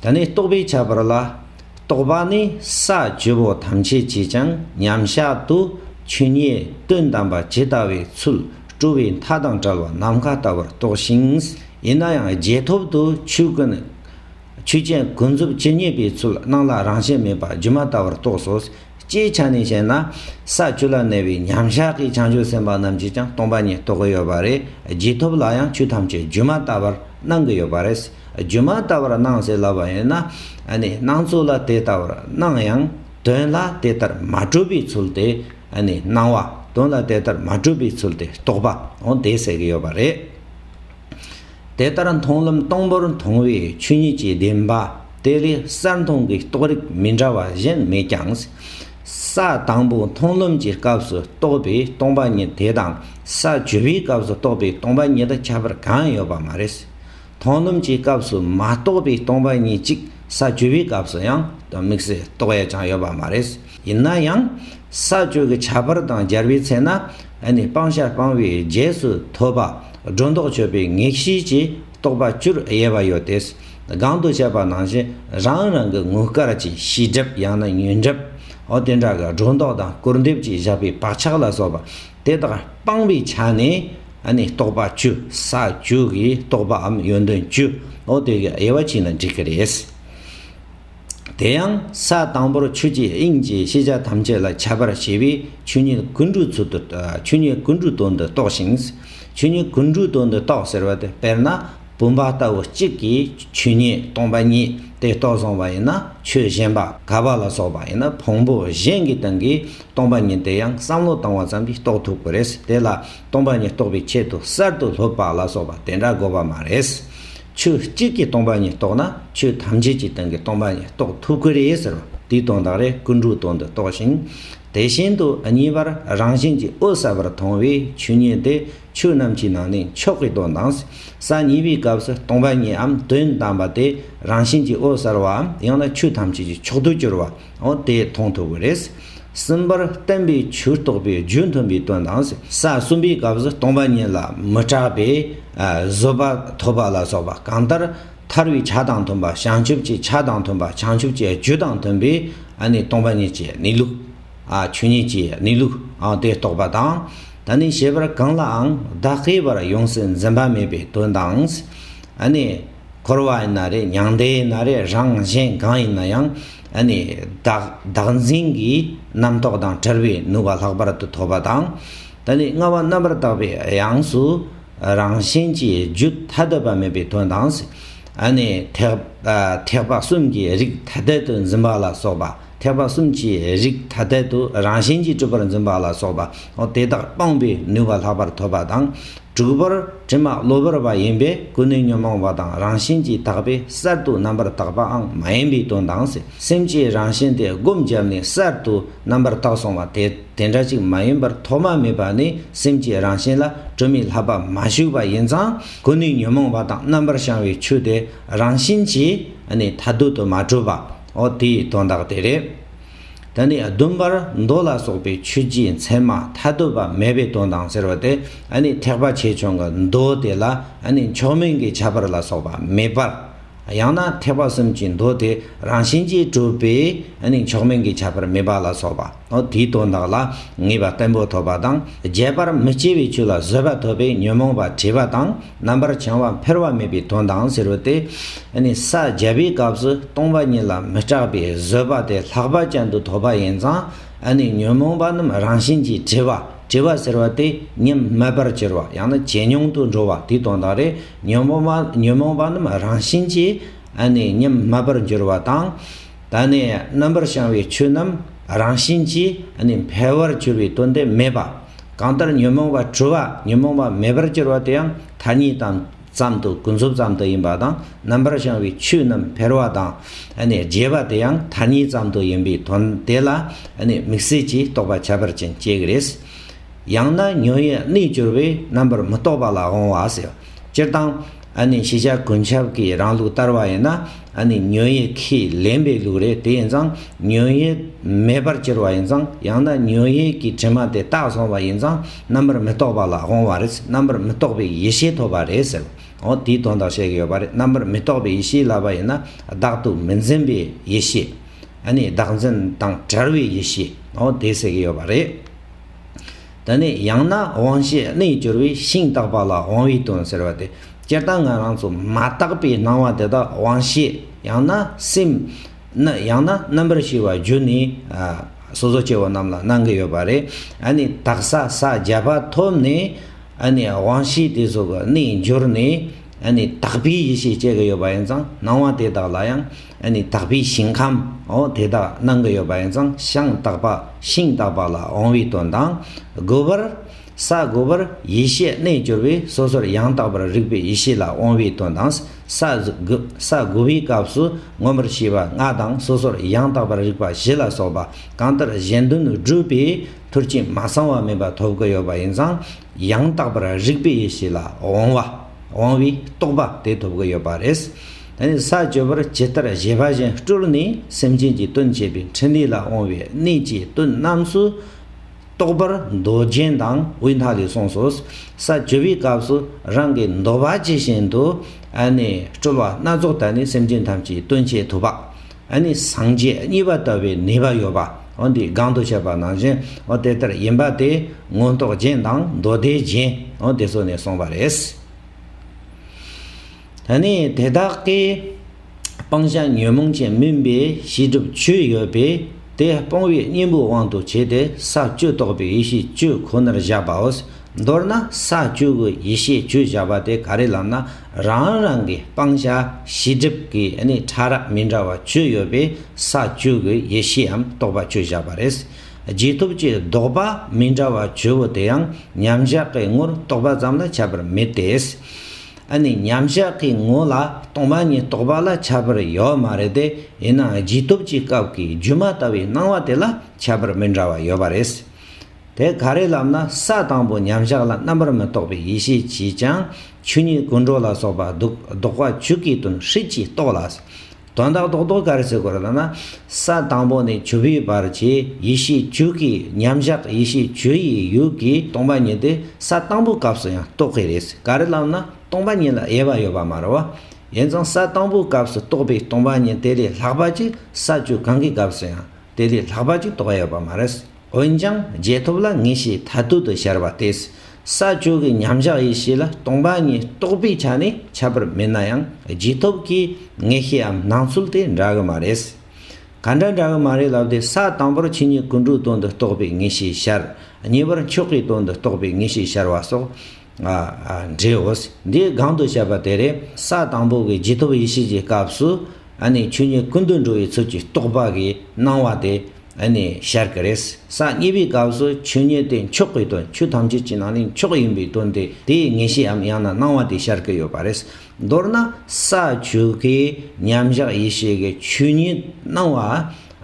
ད་ནི་རྟོགས་པའི་ཁྱད་པར་ལ། རྟོགས་པ་ནི་ས་བཅུ་པོ་ཐམས་ཅད་ཀྱིས་ཀྱང་མཉམ་གཞག་ཏུ་ཆོས་ཉིད་དོན་དམ་པ་ཇི་ལྟ་བའི་ཚུལ་སྤྲོ་བའི་མཐའ་དང་བྲལ་བ་ནམ་མཁའ་ལྟ་བུར་རྟོགས་ཤིང། ཡིན་ན་ཡང་རྗེས་ཐོབ་ཏུ་ཆོས་ཀུན། ཆོས་ཅན་ཀུན་རྫོབ་ཇི་སྙེད་པའི་ཚུལ་སྣང་ལ་རང་བཞིན་མེད་པ་སྒྱུ་མ་ལྟ་བུར་རྟོགས་སོ། སྤྱིའི་ཆ་ནས་བཤད་ན། ས་བཅུ་ལ་གནས་པའི་མཉམ་གཞག་གི་བྱང་ཆུབ་སེམས་དཔའ་རྣམས་ཀྱིས་ཀྱང་སྟོང་པ་ཉིད་རྟོགས་ཀྱི་ཡོད་པ་རེད། རྗེས་ཐོབ་ལ་ཡང་ཆོས་ཐམས་ཅད་སྒྱུ་མ་ལྟ་བར་སྣང་གི་ཡོད་པ་རེད། སྒྱུ་མ་ལྟ་བར་སྣང་ཟེར་ལབ་པ་ཡིན་ན། སྣང་ཚུལ་ལ་དེ་ལྟ་བར་སྣང་ཡང། དོན་ལ་དེ་ལྟར་མ་གྲུབ་པའི་ཚུལ་དེ། སྣང་བ། དོན་ལ་དེ་ལྟར་མ་གྲུབ་པའི་ཚུལ་དེ་རྟོགས་པའང་དེས་ཟེར་གྱི་ཡོད་པ་རེད། དེ་ལྟར་མཐོང་ལམ་སྟོང་པར་མཐོང་བའི་ཆོས་ཉིད་ཀྱི་བདེན་པ་དེ་ལས་གསལ་མཐོང་གི་རྟོགས་རིགས་མི་འདྲ་བ་གཞན་མེད་ཀྱང། ས་དང་པོ་མཐོང་ལམ་གྱི་སྐབས་སུ་རྟོགས་པའི་སྟོང་པ་ཉིད་དེ་དང་ས་བཅུ་པའི་སྐབས་སུ་རྟོགས་པའི་སྟོང་པ་ཉིད་དུ་ཁྱད་པར་གང་ཡོད་པ་མ་རེད། མཐོང་ལམ་གྱི་སྐབས་སུ་མ་རྟོགས་པའི་སྟོང་པ་ཉིད་ཅིག་ས་བཅུ་པའི་སྐབས་སུ་ཡང་དམིགས་བསལ་རྟོགས་ཡ་ཅང་ཡོད་པ་མ་རེད། ཡིན་ན་ཡང་ས་སྤྱོད་ཀྱི་བྱ་བར་དང་སྦྱར་བའི་ཚེ་ན་ནི་སྤང་བྱ་སྤང་བའི་རྗེས་སུ་ཐོབ་པ་སྒྲོ་འདོགས་ཆོད་པའི་ངེས་ཤེས་ཀྱིས་རྟོགས་པ་བཅུར་དབྱེ་བ་ཡོད་དེ། གང་དུ་བཤད་པ་ནང་བཞིན་རང་རང་གི་དངུལ་དཀར་གྱི་ཤེས་སྒྲིབ་ཡང་ན་ཉོན་སྒྲིབ་འོ་དེ་འདྲ་གི་སྒྲོ་འདོགས་དང་སྐུར་འདེབས་ཀྱིས་བཞག་པའི་བག་ཆགས་ལ་སོགས་པ་དེ་དག་སྤང་བའི་ཆ་ནས་ནི་རྟོགས་པ་བཅུ་ས་བཅུ་གིས་རྟོགས་པའམ་ཡོན་ཏན་བཅུ་འོ་དེ་གའི་དབྱེ་བ་བྱས་ན་འགྲིག་གི་རེད། དེ་ཡང་ས་དང་པོར་ཆུ་སྐྱེས་དབྱིངས་ཀྱི་ཤེས་བྱ་ཐམས་ཅད་ལ་ཁྱད་པར་ཤེས་པས་ཆོས་ཉིད་ཀུན་འགྲོའི་ཚུལ་དུ་ཆོས་ཉིད་ཀུན་འགྲོའི་དོན་དུ་རྟོགས་ཤིང། ཆོས་ཉིད་ཀུན་འགྲོའི་དོན་དུ་རྟོགས་ཟེར་བ་དེ་དཔེར་ན་བུམ་པ་ལྟ་བུ་གཅིག་གིས་ཆོས་ཉིད་སྟོང་པ་ཉིད་དེ་རྟོགས་བཟུང་བ་ཡིན་ན་ཆོས་གཞན་པ་ག་པ་ལ་སོགས་པ་ཡིན་ན་བོང་བུ་གཞན་གྱི་སྟེང་གི་སྟོང་པ་ཉིད་དེ་ཡང་བསམ་བློ་བཏང་བ་ཙམ་གྱིས་རྟོགས་ཐུབ་ཀྱི་རེད་དེ་ལ་སྟོང་པ་ཉིད་རྟོགས་པའི་ཆེད་དུ་གསར་དུ་ལྷོད་པ་ལ་སོགས་པ་དེ་འདྲ་དགོས་པ་མ་རེད། ཆོས་གཅིག་གིས་སྟོང་པ་ཉིད་རྟོགས་ན་ཆོས་ཐམས་ཅད་ཀྱི་སྟེང་གི་སྟོང་པ་ཉིད་རྟོགས་ཐུབ་ཀི་རེད་ཟེར་བ་དེའི་དོན་དག་རེད་ཀི་འབྲུག་སྟོང་འདི་རྟོགས་ཤིང། དེ་བཞིན་དུ་གཉིས་པར་རང་བཞིན་གྱིས་ཨོ་གསལ་བར་མཐོང་བའི་ཆོས་ཉིད་དེ་ཆོས་རྣམས་ཀྱི་ནང་ནས་མཆོག་གི་དོན་དང། ས་གཉིས་པའི་སྐབས་སུ་སྟོང་པ་ཉིད་འམ་དོན་དམ་པ་དེ་རང་བཞིན་གྱིས་ཨོ་གསལ་བའམ་ཡང་ན་ཆོས་ཐམས་ཅད་ཀྱི་མཆོག་ཏུ་གྱུར་བ། འོ་དེས་མཐོང་ཐུབ་ཀྱི་རེད། གསུམ་པར་བསྟན་པའི་ཆོས་རྟོགས་པའི་རྒྱུ་མཐུན་པའི་དོན་དང། ས་གསུམ་པའི་སྐབས་སུ་སྟོང་པ་ཉིད་ལ་མི་སྐྲག་པས་བཟོད་པ་ཐོབ་པ་ལ་སོགས་པ་གང་ལྟར་ཐར་བའི་ཆ་དང་མཐུན་པ་བྱང་ཆུབ་ཀྱི་ཆ་དང་མཐུན་པ་བྱང་ཆུབ་ཀྱི་རྒྱུ་དང་མཐུན་པས་སྟོང་པ་ཉིད་ཀྱི་གནས་ལུགས། ཆོས་ཉིད་ཀྱི་གནས་ལུགས་དེ་རྟོགས་པ་དང། ད་ནི་བྱེད་པར་གང་ལའང་བདག་གིས་པར་ཡོངས་སུ་འཛིན་པ་མེད་པའི་དོན་དང། འཁོར་བ་ཡིན་ན་རེ་མྱང་འདས་ཡིན་ན་རེ་རང་གཞན་གང་ཡིན་ན་ཡང་བདག་འཛིན་གྱི་རྣམ་རྟོག་དང་བྲལ་བའི་ནུས་པ་ལྷག་པར་དུ་ཐོབ་པ་དང། ད་ནི་སྔ་བ་རྣམ་པར་དག་པའི་ཡངས་སུ་རང་བཞིན་གྱི་རྒྱུ་ཐ་དད་པ་མེད་པའི་དོན་དང། ཐེག་པ་གསུམ་གྱི་རིགས་ཐ་དད་དུ་འཛིན་པ་ལ་སོགས་པ། ཐེག་པ་གསུམ་གྱི་རིགས་ཐ་དད་དུ་རང་བཞིན་གྱིས་སྤྲུལ་པར་འཛིན་པ་ལ་སོགས་པ་དེ་དག་སྤངས་པའི་ནུས་པ་ལྷག་པར་ཐོབ་པ་དང། དྲུག་པར་དྲི་མ་གློ་བུར་བ་ཡིན་པས་ཀུན་ནས་ཉོན་མོངས་པ་དང་རང་བཞིན་གྱིས་དག་པས་གསར་དུ་རྣམ་པར་དག་པའང་མ་ཡིན་པའི་དོན་དང། སེམས་ཀྱི་རང་བཞིན་དེ་སྒོམ་བརྒྱབ་ནས་གསར་དུ་རྣམ་པར་དག་སོང་བ་དེ་དེ་འདྲ་ཅིག་མ་ཡིན་པར་ཐོག་མ་མེད་པ་ནས་སེམས་ཀྱི་རང་བཞིན་ལ་སྤྲོས་མེད་ལྷག་པར་མ་ཞུགས་པ་ཡིན་ཙང་ཀུན་ནས་ཉོན་མོངས་པ་དང་རྣམ་པར་བྱང་བའི་ཆོས་དེ་རང་བཞིན་གྱིས་ནི་མཐའ་སྡུད་དུ་མ་གྲུབ་པ། འོ་དེའི་དོན་དག་དེ་རེད། ད་ནི་ཟླུམ་པར་མདོ་ལ་སོགས་པའི་ཆོས་རྗེའི་མཚན་མ་ཐ་དད་པ་མེད་པའི་དོན་དང་ཟེར་བ་དེ་ནི་ཐེག་པ་ཆེ་ཆུང་གི་མདོ་དེ་ལ་ནི་མཆོག་དམན་གྱི་ཁྱད་པར་ལ་སོགས་པ་མེད་པར། ཡང་ན་ཐེག་པ་གསུམ་གྱི་མདོ་དེ་རང་བཞིན་གྱིས་གྲུབ་པས་ནི་མཆོག་དམན་གྱི་ཁྱད་པར་མེད་པ་ལ་སོགས་པ། དེའི་དོན་དག་ལ་ངེས་པ་བརྟན་པོ་ཐོབ་པ་དང་རྒྱས་པར་མི་སྐྱེ་བའི་ཆོས་ལ་བཟོད་པ་ཐོབ་པས་ཉོན་མོངས་པ་བྲལ་བ་དང་རྣམ་པར་བྱང་བ་འཕེར་བ་མེད་པའི་དོན་དང་ཟེར་བ་དེས་ནི་ས་བརྒྱད་པའི་སྐབས་སུ་སྟོང་པ་ཉིད་ལ་མི་སྐྲག་པའི་བཟོད་པ་དེ་ལྷག་པ་ཅན་དུ་ཐོབ་པ་ཡིན་ཙང་ནི་ཉོན་མོངས་པ་རྣམས་རང་བཞིན་གྱིས་བྲི་བ་བྲི་བ་ཟེར་བ་དེ་ཉིད་མེད་པར་གྱུར་པ་ཡང་ན་ཇེ་ཉུང་དུ་འགྲོ་བ་དེའི་དོན་དག་རེད་ཉོན་མོངས་པ་རྣམས་རང་བཞིན་གྱིས་ནི་ཉིད་མེད་པར་འགྱུར་བ་དང། ད་ནི་རྣམ་པར་བྱང་བའི་ཆོས་རྣམས་རང་བཞིན་གྱིས་ནི་འཕེལ་བར་གྱུར་པའི་དོན་དེ་མེད་པ། གང་ལྟར་ཉོན་མོངས་པ་འཁྲུལ་བ་ཉོན་མོངས་པ་མེད་པར་གྱུར་པ་དེའང་མཐའ་གཉིས་དང་ཙམ་དུ་ཀུན་རྫོབ་ཙམ་དུ་ཡིན་པ་དང་རྣམ་པར་བྱང་བའི་ཆོས་རྣམས་འཕེལ་བ་དང་ནི་རྒྱས་པ་དེའང་མཐའ་གཉིས་ཙམ་དུ་ཡིན་པའི་དོན་དེ་ལ་ནི་དམིགས་བསལ་གྱི་རྟོག་པ་ཁྱད་པར་ཅན་སྐྱེ་གི་རེད། ཡང་ན་ཉོན་ཡིད་གནས་གྱུར་པས་རྣམ་པར་མི་རྟོག་པ་ལ་འོང་བ་ཟེར། སྤྱིར་བཏང། ཤེས་བྱ་ཀུན་ཁྱབ་ཀྱི་རང་ལུགས་ལྟར་བ་ཡིན་ན། ཉོན་ཡིད་ཁས་ལེན་པའི་ལུགས་རེད་དེ་ཡིན་ཙང་ཉོན་ཡིད་མེད་པར་གྱུར་བ་ཡིན་ཙང་ཡང་ན་ཉོན་ཡིད་ཀྱི་དྲི་མ་དེ་རྟགས་བཟུང་བ་ཡིན་ཙང་རྣམ་པར་མི་རྟོག་པ་ལ་འོང་བ་རེད་རྣམ་པར་མི་རྟོག་པའི་ཡེ་ཤེས་ཐོབ་པ་རེད་ཟེར། འོ་དེའི་དོན་དག་བཤད་ཀྱི་ཡོད་པ་རེད་རྣམ་པར་མི་རྟོག་པའི་ཡེ་ཤེས་ལབ་པ་ཡིན་ན་བདག་ཏུ་མི་འཛིན་པའི་ཡེ་ཤེས། བདག་འཛིན་དང་བྲལ་བའི་ཡེ་ཤེས། འོ་དེ་ཟེར་གྱི་ཡོད་པ་རེད། ད་ནི་ཡང་ན་དབང་ཤེས་རྣལ་འབྱོར་བས་ཤིང་རྟག་པ་ལ་དབང་བའི་དོན་ཟེར་བ་སྟེ་སྤྱིར་བཏང་ང་རང་ཚོ་མ་བརྟགས་པའི་སྣང་བ་དེ་དག་དབང་ཤེས་ཡང་ན་སེམས། ཡང་ན་རྣམ་པར་ཤེས་པ་བརྒྱུད་ནས་སོ་སོ་སྐྱེ་བོ་རྣམས་ལ་སྣང་གི་ཡོད་པ་རེད། ད་ནི་དག་ས་ས་བརྒྱད་པ་ཐོབ་ནས། ད་ནི་དབང་ཤེས་དེ་སོགས་ཀྱི་རྣལ་འབྱོར་ནས། ད་ནི་དག་པའི་ཡེ་ཤེས་སྐྱེ་གི་ཡོད་པ་ཡིན་ཙང་སྣང་བ་དེ་དག་ལ་ཡང། ནི་དག་པའི་ཞིང་ཁམས་འོ་དེ་དག་སྣང་གི་ཡོད་པ་ཡིན་ཙང་ཤངས་དག་པ་ཤིང་དག་པ་ལ་འོང་བའི་དོན་དང། དགུ་པར། ས་དགུ་པར་ཡེ་ཤེས་རྣལ་འབྱོར་པས་སོ་སོར་ཡང་དག་པར་རིག་པའི་ཡེ་ཤེས་ལ་འོང་བའི་དོན་དང། ས་དགུ་པའི་སྐབས་སུ་མངོན་པར་ཤེས་པ་ལྔ་དང་སོ་སོར་ཡང་དག་པར་རིག་པ་བཞི་ལ་སོགས་པ་གང་ལྟར་གཞན་དོན་བསྒྲུབ་པའི་ཐུར་ཕྱིན་མ་ཚང་བ་མིན་པ་ཐོབ་ཀྱི་ཡོད་པ་ཡིན་ཙང་ཡང་དག་པར་རིག་པའི་ཡེ་ཤེས་ལ་དབང་བ། དབང་བའི་རྟོགས་པ་དེ་ཐོབ་ཀྱི་ཡོད་པ་རེད། ད་ནི་ས་བཅུ་པར་ཇི་ལྟར་བཞེད་པ་བཞིན་སྤྲུལ་ནས་སེམས་ཅན་གྱི་དོན་བྱེད་པའི་ཕྲིན་ལས་ལ་དབང་བའི་གནད་ཀྱི་དོན་རྣམས་སུ་རྟོགས་པར་མདོ་རྒྱན་དང་དབུས་མཐའ་ལས་གསུངས་སོ། ས་བཅུ་པའི་སྐབས་སུ་རང་གི་འདོད་པ་ཇི་བཞིན་དུ་སྤྲུལ་བ་སྣ་ཚོགས་དར་ནས་སེམས་ཅན་ཐམས་ཅད་དོན་བྱེད་ཐུབ་པ། ཨ་ནི་སངས་རྒྱས་གཉིས་པ་ལྟ་བུའི་ནུས་པ་ཡོད་པ་འོ་འདིའི་སྒང་དུ་བཤད་པ་ནང་བཞིན་འོ་དེ་ལྟར་ཡིན་པ་དེ་མངོན་རྟོགས་རྒྱན་དང་མདོ་སྡེའི་རྒྱན་འོ་དེ་ཚོ་ནས་གསུངས་པ་རེད། ད་ནི་དེ་དག་གི་སྤང་བྱ་ཉོན་མོངས་ཅན་མིན་པའི་ཤེས་སྒྲིབ་བཅུ་ཡོད་པས་དེ་སྤོང་བའི་གཉེན་པོའི་དབང་དུ་བྱས་ཏེ་ས་བཅུ་རྟོགས་པའི་ཡེ་ཤེས་བཅུ་ཁོ་ནར་བཞག་པའོ། མདོར་ན་ས་བཅུ་དགུ་ཡེ་ཤེས་བཅུ་བཞག་པ་དེ་ག་རེ་ལབ་ན་རང་རང་གི་སྤང་བྱ་གཞི་སྒྲིབ་ཀྱི་ཕྲ་རགས་མི་འདྲ་བ་བཅུ་ཡོད་པའི་ས་བཅུ་གི་ཡེ་ཤེའམ་རྟོགས་པ་བཅུ་བཞག་པ་རེད། རྗེས་ཐོབ་ཀྱི་ལྡོག་པ་མི་འདྲ་བ་བཅུ་བོ་དེ་ཡང་མཉམ་བཞག་གི་ངོར་རྟོགས་པ་ཙམ་ལ་ཁྱབ་པར་མི་ལྟོས། མཉམ་བཞག་གི་ངོ་ལ་སྟོང་པ་ཉིད་རྟོགས་པ་ལ་ཁྱབ་པར་ཡོད་མ་རེད་དེ་ཡིན་ན་རྗེས་ཐོབ་ཀྱི་སྐབས་ཀྱི་སྒྱུ་མ་ལྟ་བུའི་སྣང་བ་དེ་ལ་ཁྱབ་པར་མི་འདྲ་བ་ཡོད་པ་རེད། དེ་ག་རེ་ལབ་ན་ས་དང་པོ་མཉམ་གཞག་ལ་རྣམ་པར་མི་རྟོག་པའི་ཡེ་ཤེས་ཀྱིས་ཀྱང་ཆོས་ཉིད་ཀུན་འགྲོ་ལ་སོགས་པ་བཟློག་བཟློག་པ་ཆོས་ཀྱི་དོན་ཧྲིལ་གྱིས་རྟོགས་ལ། དོན་དག་རྟོགས་རྟོགས་ག་རེ་བྱེད་དགོས་ལབ་ན། ས་དང་པོ་ནས་བྱུར་བའི་བར་གྱི་ཡེ་ཤེས་བཅུ་གྱིས་མཉམ་གཞག་ཡེ་ཤེས་བཅུ་ཡི་ཡུལ་གྱི་སྟོང་པ་ཉིད་དེ་ས་དང་པོའི་སྐབས་སུ་ཡང་རྟོགས་ཀྱི་རེད་ག་རེ་ལབ་ན་སྟོང་པ་ཉིད་ལ་དབྱེ་བ་ཡོད་པ་མ་རེད་བ། ཡིན་ཙང་ས་དང་པོའི་སྐབས་སུ་རྟོགས་པའི་སྟོང་པ་ཉིད་དེ་ལས་ལྷག་པ་ཅིག་ས་བཅུ་གང་གི་སྐབས་སུ་ཡང་དེ་ལས་ལྷག་པ་ཅིག་རྟོགས་ཡོད་པ་མ་རེད། འོན་ཀྱང་རྗེས་ཐོབ་ལ་ངེས་ཤེས་མཐར་ཐུག་ཏུ་ཤར་བ་དེས་ས་བཅུ་གི་མཉམ་གཞག་ཡེ་ཤེས་ལ་སྟོང་པ་ཉིད་རྟོགས་པའི་ཆ་ནས་ཁྱབ་པར་མིན་ན་ཡང་རྗེས་ཐོབ་ཀྱི་ངེས་ཤེས་འམ་སྣང་ཚུལ་དེ་འདྲ་གི་མ་རེད། ག་འདྲ་འདྲ་གི་མ་རེད་ལབ་སྟེ་ས་དང་པོར་ཕྱི་ཉིད་ཀུན་འགྲོའི་དོན་དུ་རྟོགས་པའི་ངེས་ཤེས་ཤར། གཉིས་པར་མཆོག་གི་དོན་དུ་རྟོགས་པའི་ངེས་ཤེས་ཤར་བ་སོགས་འདྲེའོ། འདི་གང་དུ་བཤད་པ་དེ་རེད། ས་དང་པོ་གི་རྗེས་ཐོབ་ཡེ་ཤེས་ཀྱི་སྐབས་སུ་ནི་ཆོས་ཉིད་ཀུན་ཏུ་འགྲོ་བའི་ཚུལ་གྱིས་རྟོགས་པ་གིས་སྣང་བ་དེ། ཨ་ནི་ཤར་གི་རེས་གཟའ་གཉིས་པའི་སྐབས་སུ་ཆོས་ཉིད་དེ་མཆོག་གི་དོན་ཆོས་ཐམས་ཅད་ཀྱི་ནང་ནས་མཆོག་ཡིན་པའི་དོན་དེ་དེའི་ངེས་ཤེསའམ་ཡང་ན་སྣང་བ་དེ་ཤར་གི་ཡོད་པ་རེད། མདོར་ན་ས་བཅུ་གའི་མཉམ་གཞག་ཡེ་ཤེས་ཀྱི་ཆོས་ཉིད་སྣང་བ་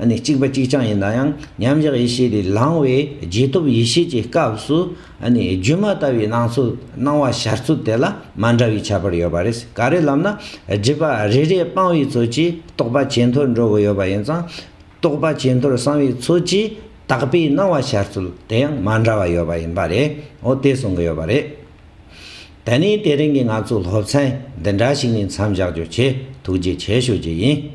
ཨ་ནི་གཅིག་པ་གཅིག་རྐྱང་ཡིན་ན་ཡང་མཉམ་གཞག་ཡེ་ཤེས་དེ་ལངས་བའི་རྗེས་ཐོབ་ཡེ་ཤེས་ཀྱི་སྐབས་སུ་ཨ་ནི་སྒྱུ་མ་ལྟ་བུའི་སྣང་ཚུལ་སྣང་བ་ཤར་ཚུལ་དེ་ལ་མ་འདྲ་བའི་ཁྱད་པར་ཡོད་པ་རེད། ག་རེ་ལབ་ན་སྒྲིབ་པ་རེ་རེ་སྤང་བའི་ཚུལ་གྱིས་རྟོགས་པ་ཇེ་མཐོར་འགྲོ་གི་ཡོད་པ་ཡིན་ཙང། རྟོགས་པ་ཇེ་མཐོར་སོང་བའི་ཚུལ་གྱིས་དག་པའི་སྣང་བ་འཆར་ཚུལ་དེ་ཡང་མ་འདྲ་བ་ཡོད་པ་ཡིན་པ་རེད་འོ་དེ་གསུང་གི་ཡོད་པ་རེད། ད་ནི་དེ་རིང་གི་ང་ཚོའི་སློབ་ཚན་འདི་འདྲ་ཞིག་ནས་མཚམས་བཞག་རྒྱུ་ཆེ་ཐུགས་རྗེ་ཆེ་ཞུ་རྒྱུ་ཡིན།